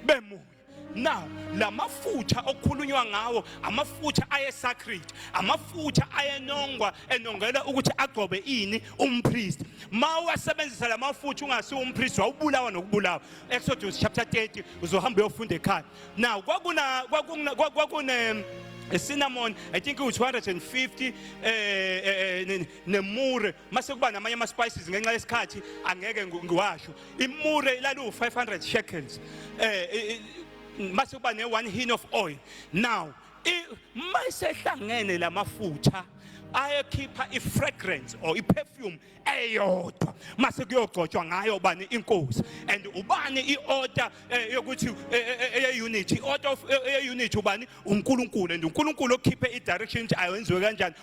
Speaker 2: bemunye Now lamafutha okukhulunywa ngawo amafutha ayesacred amafutha ayenongwa enongela ukuthi agcobe ini umpriest mawasebenzisa lamafutha ungasi umpriest wawubulawa nokubulawa Exodus chapter 30 uzohamba uyofunda ekhaya now kwakuna kwakune kwakune a cinnamon i think it was 250 eh, eh, eh nemure mase kuba namanye ama spices ngenxa yesikhathi angeke ngiwasho imure ilaliwu-500 shekels eh mase kuba ne-one hin of oil now uma isehlangene la mafutha ayekhipha i-fragrance or i-perfume eyodwa mase kuyogcotshwa ngayo bani inkosi and ubani i-order eh, yokuthi eh, eh, eye-unity i-order eye-unity ubani unkulunkulu and unkulunkulu okhiphe i-direction ukuthi ayenziwe kanjani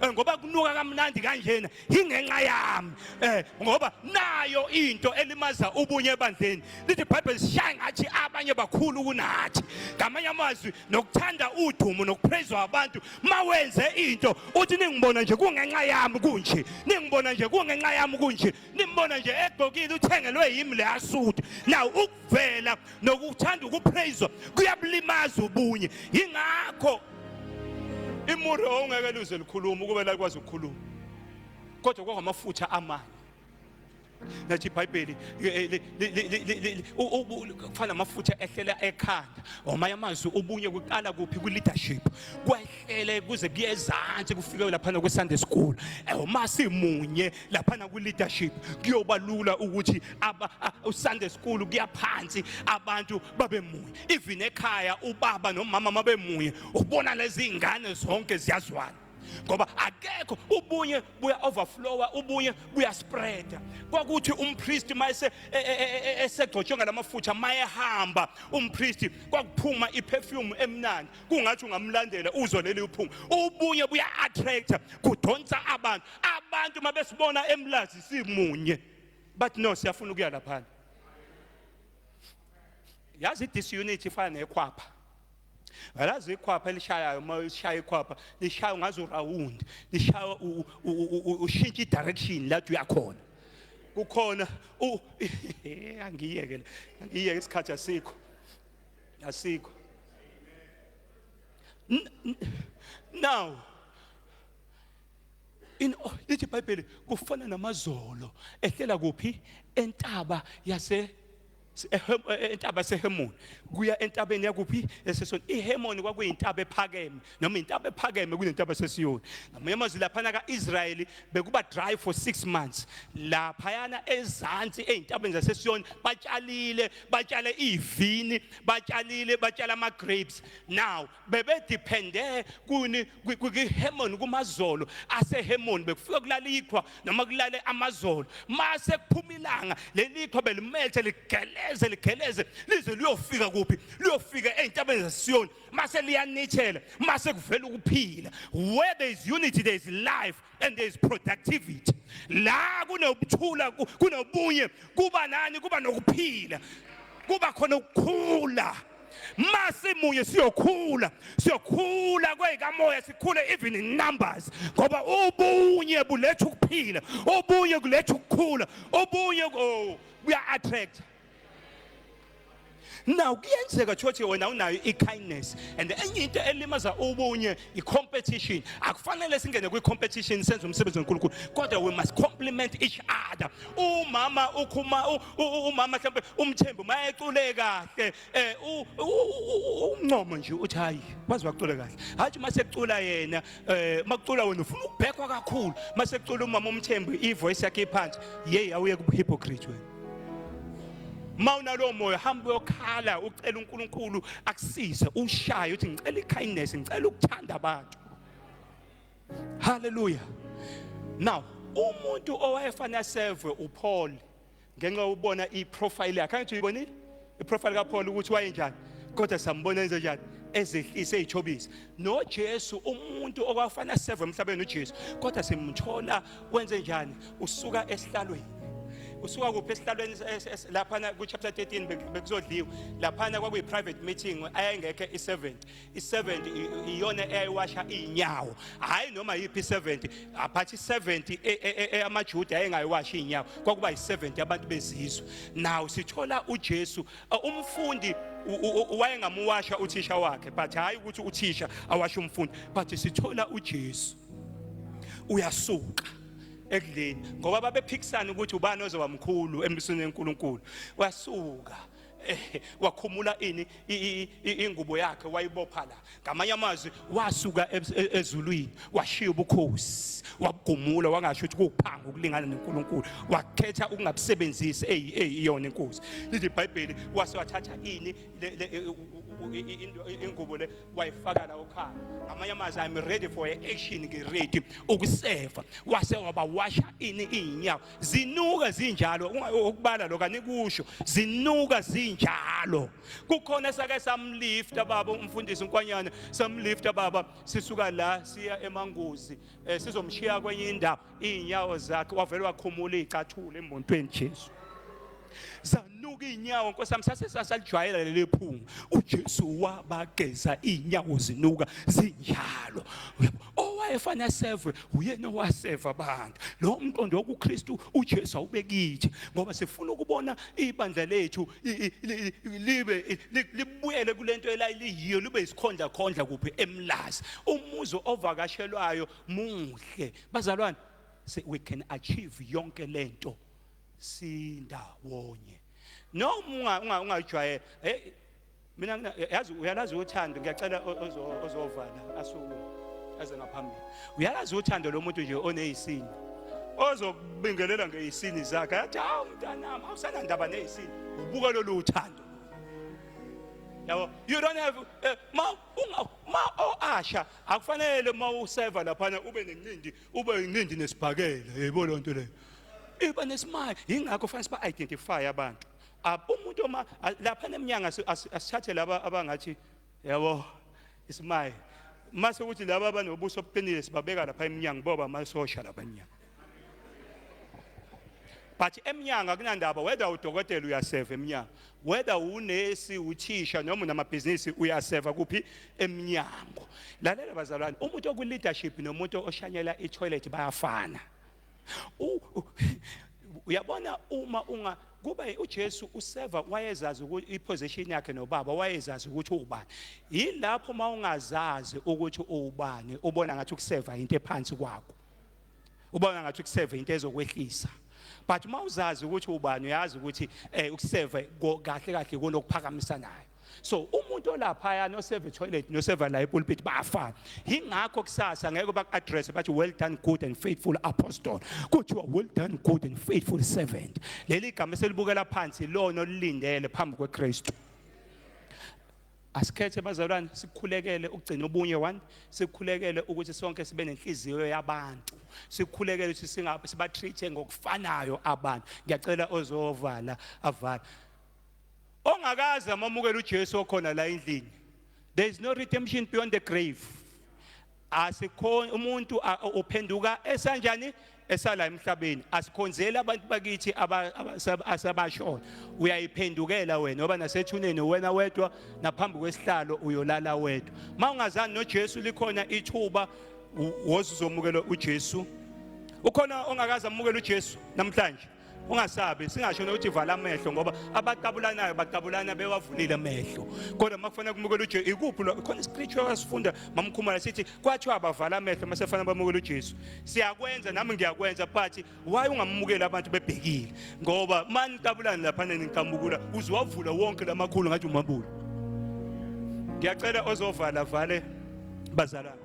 Speaker 2: eh, ngoba kunuka kamnandi kanjena yingenxa yami eh ngoba nayo into elimaza ubunye ebandleni lithi bible shaya ngathi abanye bakhulu kunathi ngamanye amazwi nokuthanda udumo nokuphezwa abantu mawenze into uthi ningibona nje kungenxa yami kunje ningibona nje kungenxa yami kunje nimbona nje egqokile uthengelwe yimi le asudu now ukuvela nokuthanda ukupraise kuyabulimaza ubunye ingakho imure ongeke luze likhuluma ukube lakwazi ukukhuluma kodwa kwangamafutha amanye nathi ibhayibheli kufana amafutha ehlela ekhanda omanye amazwi ubunye kuqala kuphi kwi-leadership kwehlele kuze kuyezansi kufike laphana kwi-sunday school eh, uma simunye laphana kwi-leadership kuyoba lula ukuthi usande school kuyaphansi abantu babe munye even ekhaya ubaba nomama mabe munye ubona lezi ngane zonke ziyazwana ngoba akekho ubunye buya overflowa ubunye buya spreada kwakuthi umpriest mayese e, e, e, esegcotshwe ngalamafutha mayehamba umpriest kwakuphuma iperfume emnandi kungathi ungamlandela uzwe leli uphuma ubunye buya attractor kudonsa abantu abantu mabesibona emlazi simunye but no siyafuna ukuya laphana yazi this unit ifana nekhwapha ngalazi ikhwapha elishayayo uma lishaya ikhwapha lishaya ngaze urawund lishaya ushintsha idirection lathi uyakhona kukhona angiyeke angiyeke isikhathi asikho asikho now Oh, lithi ibhayibheli kufana namazolo ehlela kuphi entaba yase entaba sehemoni kuya entabeni yakuphi esesoni ihemoni kwakuyintaba ephakeme noma intaba ephakeme kunentaba sesiyoni ngamanye amazwi laphana ka-israyeli bekuba dry for six months laphayana ezansi ey'ntabeni zasesiyoni batshalile batshale iy'vini batshalile batshale ama-grapes now bebediphende kuni kwihemoni kumazolo asehemoni bekufika kulala ikhwa noma kulale amazolo mase kuphuma ilanga leli ikhwa belimethe ligeleze ligeleze lize liyofika kuphi liyofika ezintabeni zasiyoni mase liyanithela mase kuvela ukuphila where there is unity there is life and there is productivity la kunokuthula kunobunye kuba nani kuba nokuphila kuba khona ukukhula masimunye siyokhula siyokhula kweyikamoya sikhule even in numbers ngoba ubunye buletha ukuphila ubunye kuletha ukukhula ubunye oh, kuya attract na kuyenzeka chothi wena unayo i-kindness and enye into elimaza ubunye i-competition akufanele singene kwi-competition senze umsebenzi wenkulunkulu kodwa we must compliment each other umama ukhuma umama mhlawumbe umthembu uma ecule kahle um umncomo nje uthi hhayi wazi wacule kahle hhayi uma sekucula yena um eh, uma kucula wena ufuna ukubhekwa kakhulu uma sekucula umama umthembu i-voice yakhe iphansi yeyi awuye kubuhypocrite wena uma unalowo moya hamba uyokhala ucela uNkulunkulu akusize ushaye uthi ngicela ikindness ngicela ukuthanda abantu haleluya now umuntu owayefanele asevwe uPaul ngenxa ubona iprofile yakhe angithi uyibonile iprofile kaPaul ukuthi wayenjani kodwa sambona enze njani ezehlise eyithobisa noJesu umuntu okwafanele seve emhlabeni uJesu kodwa simthola wenze njani usuka esihlalweni usuka kuphi esihlalweni laphana ku-chapter 13 bekuzodliwa laphana kwakuyi-private meeting ayayingekho i-70 i-70 iyona eyayiwasha iy'nyawo hhayi noma yiphi i-70 but i-70 eyamajuda ayengayiwashi iy'nyawo kwakuba yi-70 abantu bezizwe naw sithola ujesu umfundi wayengamuwasha uthisha wakhe but hhayi ukuthi uthisha awashe umfundi but sithola ujesu uyasuka ekudleni ngoba babephikisana ukuthi ubani ozoba mkhulu embusweni wenkulunkulu wasuka Eh, wakhumula ini ingubo yakhe wayibopha la ngamanye amazwi wasuka e-, ezulwini washiya ubukhosi wabugumula wangasho ukuthi kuphanga ukulingana noNkulunkulu wakhetha ukungabusebenzisi eyi eyi iyona inkosi lithi iBhayibheli wase wathatha ini ingubo le wayifaka la okhaya ngamanye amazwi i'm ready for action ngiready ukuseva wase wabawasha ini iy'nyawo zinuka zinjalo ukubala lo kanikusho zinuka zinjalo kukhona esake samlifta baba umfundisi unkwanyana samlifta baba sisuka la siya emanguzi eh, sizomshiya kwenye indawo izinyawo zakhe wavele wakhumula icathula emontweni Jesu zanuka iy'nyawo nkosi yami sase sasalijwayela leli phunga ujesu wabageza iy'nyawo zinuka zinjalo owayefanele aseve uyena owaseva abantu lowo mqondo wokukristu ujesu awube kithi ngoba sifuna ukubona ibandla lethu libe libuyele kule nto elaliyiyo libe isikhondlakhondla kuphi emlazi umuzi ovakashelwayo muhle bazalwane we can achieve yonke le nto sindawonye noma ungayijwayela hey mina yazi uyalazi uthando ngiyacela ozovala asukume aze ngaphambili uyalazi uthando lomuntu nje onezisini ozokubingelela ngezisini zakhe athi hawu mntanami awusanandaba nezisini ubuka lolu uthando yabo you don't have eh, ma ma oasha akufanele uma useva laphana ube nencindi Uba inqindi nesibhakela yebo lonto leyo. Iba nesimaya ingakho fanele siba identify abantu. Umuntu uma lapha neminyanga asithathe laba abangathi yabo isimaya mase ukuthi laba abanobuso obuqinile sibabeka lapha eminyango boba amasosha lapha eminyango but emnyango akunandaba whether udokotela uyaseva emnyango whether unesi uthisha noma unamabhizinisi uyaseva kuphi emnyango lalela bazalwane umuntu okuleadership nomuntu oshanyela itoilet bayafana uyabona uma unga kuba uJesu useva wayezazi ukuthi iposition yakhe nobaba wayezazi ukuthi ubani yilapho uma ungazazi ukuthi ubani ubona ngathi ukuseva into ephansi kwakho ubona ngathi ukuseva into ezokwehlisa but uma uzazi ukuthi ubani uyazi ukuthi um ukuseve kahle kahle kona okuphakamisa nayo so umuntu olaphaya noseva etoilet noseva la epulpit bafana yingakho kusasa ngeke baku-addresse bathi well done good and faithful apostle kuthiwa well done good and faithful servant leli gama eselibukela phansi lona olilindele phambi kwekristu Asikhethe bazalwane sikhulekele ukugcina ubunye one sikhulekele ukuthi sonke sibe nenhliziyo yabantu sikhulekele ukuthi singabe siba treat ngokufanayo abantu ngiyacela ozovala avala ongakazi amamukela uJesu okhona la endlini there is no redemption beyond the grave asikho umuntu uphenduka esanjani esala emhlabeni asikhonzeli abantu bakithi asabashona uyayiphendukela wena oba nasethuneni wena wedwa naphambi kwesihlalo uyolala wedwa uma ungazani nojesu likhona ithuba wozizomukela ujesu ukhona ongakaze amukele ujesu namhlanje ungasabi singasho nokuthi vala amehlo ngoba abaqabulanayo baqabulana bewavulile amehlo kodwa uma kufanele kumukela ujesu ikuphi lo khona iscripture wasifunda mamkhumala sithi kwathiwa abavala amehlo uma sefanele bamukela ujesu siyakwenza nami ngiyakwenza but why ungamukeli abantu bebhekile ngoba uma niqabulana laphana niqambukula uziwavula wonke lamakhulu ngathi umabulo ngiyacela ozovala vale bazalwane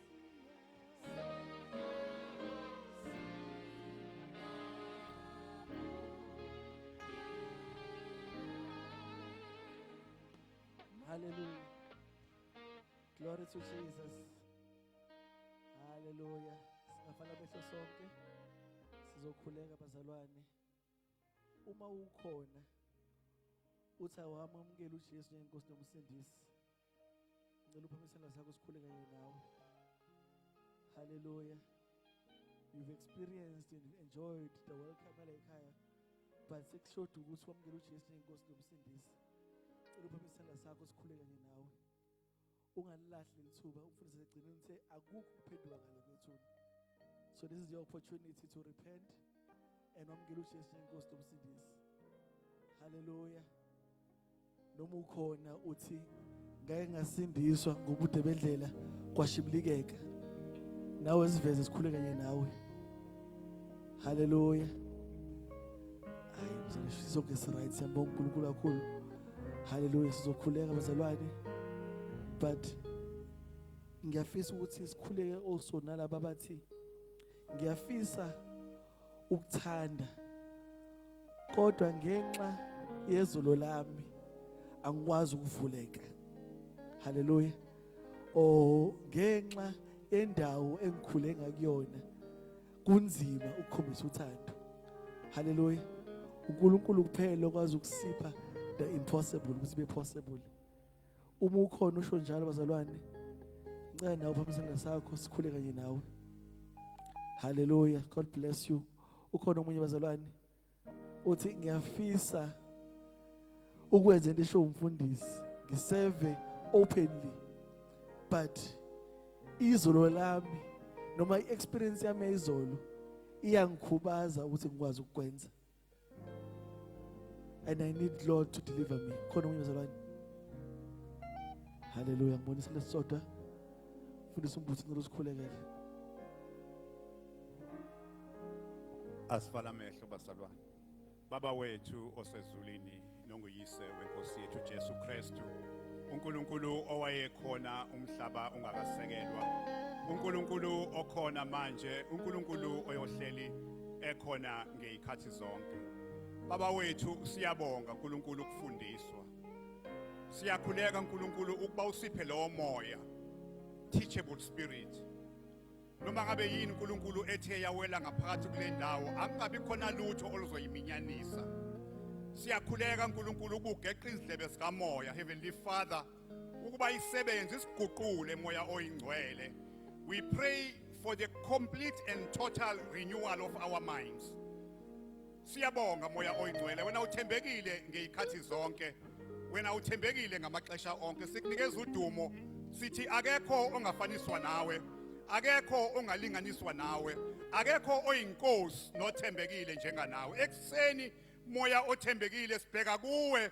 Speaker 4: Hallelujah. Glory to Jesus. Hallelujah. Singafana behlo sonke. Sizokhuleka bazalwane. uma ukhona uthi awamamukela uJesu njengenkosi nomsindisi ngicela uphamisela sakho sikhule kanye nawe hallelujah you've experienced and enjoyed the welcome la ekhaya but sekushoda ukuthi wamukele uJesu njengenkosi nomsindisi cela uphamisela sakho sikhule kanye nawe ungalilahli leli thuba umfundisi egcine nithe akukho ukuphenduka ngale kwethuna so this is your opportunity to repent and wamukela ujesu njengenkosi nomsindisi haleluya noma ukhona uthi ngake ngasindiswa ngobude bendlela kwashibilikeka nawe ziveze sikhule kanye nawe Haleluya. Hayi mzalwane sonke si right siyambonga uNkulunkulu kakhulu. Haleluya sizokhuleka bazalwane. But ngiyafisa ukuthi sikhuleke also nalabo abathi ngiyafisa ukuthanda kodwa ngenxa yezolo lami angikwazi ukuvuleka haleluya oh ngenxa yendawo engikhule ngakuyona kunzima ukukhombisa uthando haleluya uNkulunkulu kuphela okwazi ukusipha the impossible ukuthi be possible uma ukhona usho njalo bazalwane ngicela nawe phambi sandla sakho sikhule kanye nawe haleluya god bless you ukhona omunye bazalwane uthi ngiyafisa ukwenza into esho umfundisi ngiseve openly but izolo lami noma iexperience yami yayizolo iyangikhubaza ukuthi ngikwazi ukukwenza and i need lord to deliver me khona omunye mzalwane haleluya ngibonisa lesisodwa fundisa umbuthi ngicela usikhulekele
Speaker 5: Asivala amehlo bazalwane. Baba wethu osezulwini nonguyise wenkosi yethu Jesu Kristu. uNkulunkulu owayekhona umhlaba ungakasekelwa. uNkulunkulu okhona manje, uNkulunkulu oyohleli ekhona ngezikhathi zonke. Baba wethu siyabonga uNkulunkulu ukufundiswa. Siyakhuleka uNkulunkulu ukuba usiphe lowo moya teachable spirit noma ngabe yini uNkulunkulu ethe yawela ngaphakathi kule ndawo akungabi khona lutho oluzoyiminyanisa siyakhuleka uNkulunkulu ukugeqa izindlebe sikamoya heavenly father ukuba isebenze isiguqule moya oyingcwele we pray for the complete and total renewal of our minds Siyabonga moya oyingcwele wena uthembekile ngeyikhathi zonke wena uthembekile ngamaxesha onke sikunikeza udumo sithi akekho ongafaniswa nawe akekho ongalinganiswa nawe akekho oyinkosi nothembekile njenganawe ekuseni moya othembekile sibheka kuwe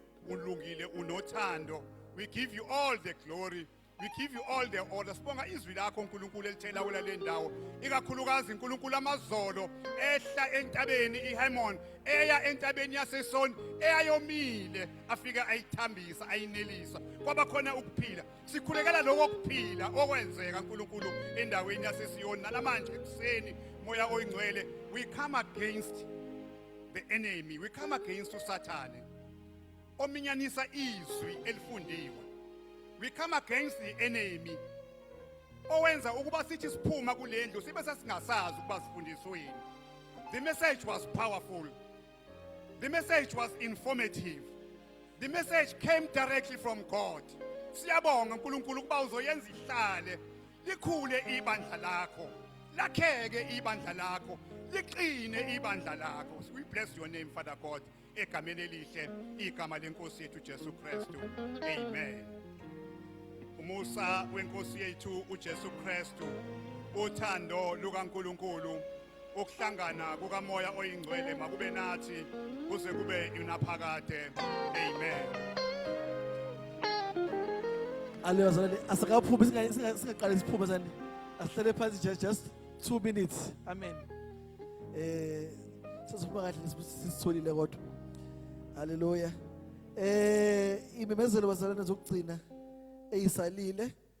Speaker 5: ulungile unothando we give you all the glory we give you all the honor sibonga izwi lakho nkulunkulu elithela wela le ndawo ikakhulukazi nkulunkulu amazolo ehla entabeni ihemon eya entabeni yasesoni eyayomile afika ayithambisa ayinelisa kwaba khona ukuphila sikhulekela lokho kuphila okwenzeka nkulunkulu endaweni yasesiyoni nalamanje ekuseni moya oyingcwele we come against the enemy we come against usathane ominyanisa izwi elifundiwe we come against the enemy owenza ukuba sithi siphuma kulendlu sibe sesingasazi ukuba sifundisweni the message was powerful the message was informative the message came directly from god siyabonga uNkulunkulu ukuba uzoyenza ihlale likhule ibandla lakho lakheke ibandla lakho liqine ibandla lakho we bless your name father god egameni elihle igama lenkosi yethu jesu kristu amen umusa wenkosi yethu ujesu kristu uthando lukankulunkulu ukuhlangana kukamoya oyingcwele makube nathi kuze kube yunaphakade amen
Speaker 4: aleyo zalane asikaphumi singaqali siphume zani asihlale phansi just just two minutes amen eh sizophuma kahle sisitholile kodwa haleluya eh imemezelo bazalwane zokugcina eyisalile